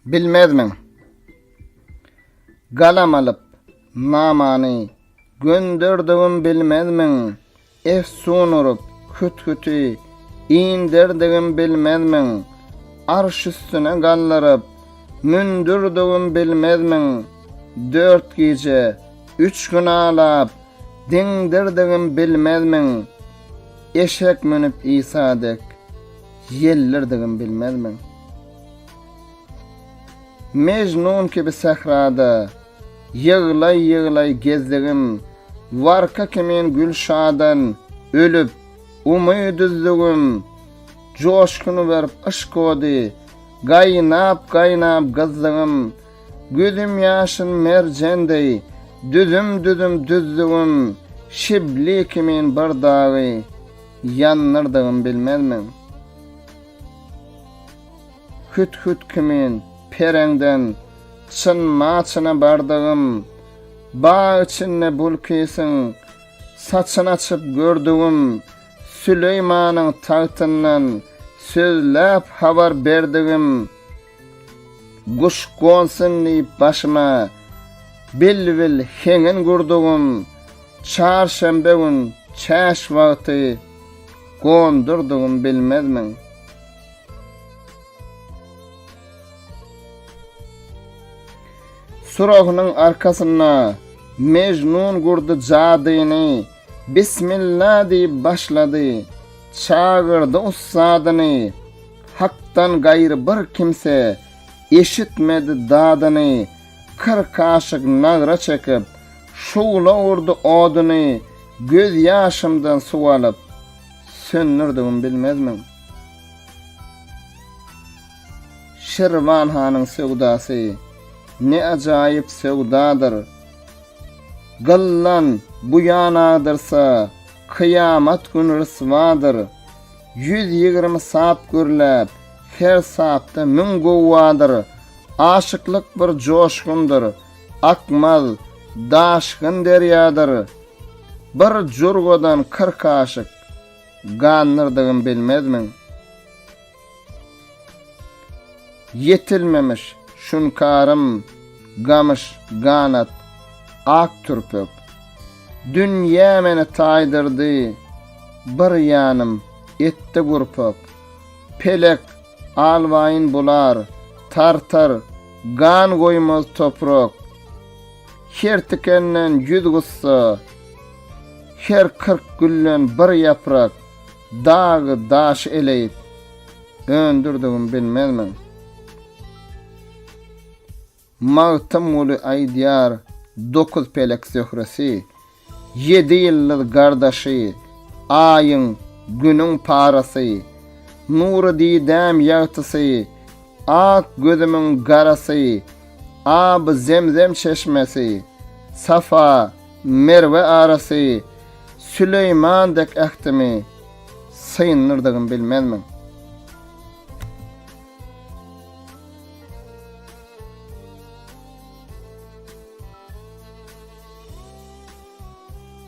Bilmezmiň? Galam alyp, namany gönderdigim bilmezmiň? Efsun urup, küt-küti inderdigim bilmezmiň? Arş üstüne galdyryp, mündürdigim bilmezmiň? Dört gije, üç gün alap, Deňdirdigim bilmezmiň? Eşek münüp Isa dek, ýellirdigim bilmezmiň? Mejnun kibi sährada, ýyglaý-ýyglaý gezdigim, warka kimin Gülşadan ölüp, umyt üzdügim, joşgun berip yşk ody, gaýnap-gaýnap gyzdygym, Gözüm ýaşyl merjen deý, düzüm-düzüm düzdügim, şibli kimin bir dagy ýandyrdygym bilmezmiň? Hüt-hüt kimin pereňden çyn-ma-çyna bardygym, bag içinde bulkisyň saçyn açyp gördügim, Süleýmanyň tagtyndan sözläp habar berdigim, Guş gonsun diýip başyma, Bilbil heňin gurdugym, Çarşenbe gün çäş wagty, Gondurdugym bilmezmiň? Surahynyň arkasynda Mejnun gurdy jadyny, Bismilla diýip başlady. Çagyrdy ussadyny. Hakdan gaýry bir kimse. Eşitmedi dadyny. Kyrk kaşyk nagra çekip. Şugla urdy oduny. Göz ýaşymdan suw alyp. Söndürdigim bilmezmiň? Şirwan hanyň söwdasy. Ne ajaýyp söwdadyr. Gyllan bu ýan agdyrsa, kyýamat güni ryswadyr. Ýüz ýigrimi sap gürläp, her sapda müň gowwadyr. Aşyklyk bir joşgundyr, akmaz, daşgyn derýadyr. Bir jurgadan kyrk aşyk, gandyrdygyn bilmezmiň? Ýetilmemiş şunkarym, gamyş, ganat, ak türpek. Dünýä meni taýdyrdy, bir ýanym etdi gurpak. Pelek, alwaýyn bular, tartar, gan goýmaz toprak. Her tikenden ýüz gussa, her kyrk gülden bir ýaprak. Dagy daş eleýip, döndürdigim bilmezmiň? Magtymguly aýdýar, Dokuz pelek zöhresi, ýedi ýyldyz gardaşy, Aýyň, Günüň parasy, Nury didäm ýagtysy, Ak gözümiň garasy, Aby zemzem çeşmesi, Safa, Merwe arasy Süleýman dek ähtimi syndyrdygym bilmezmiň?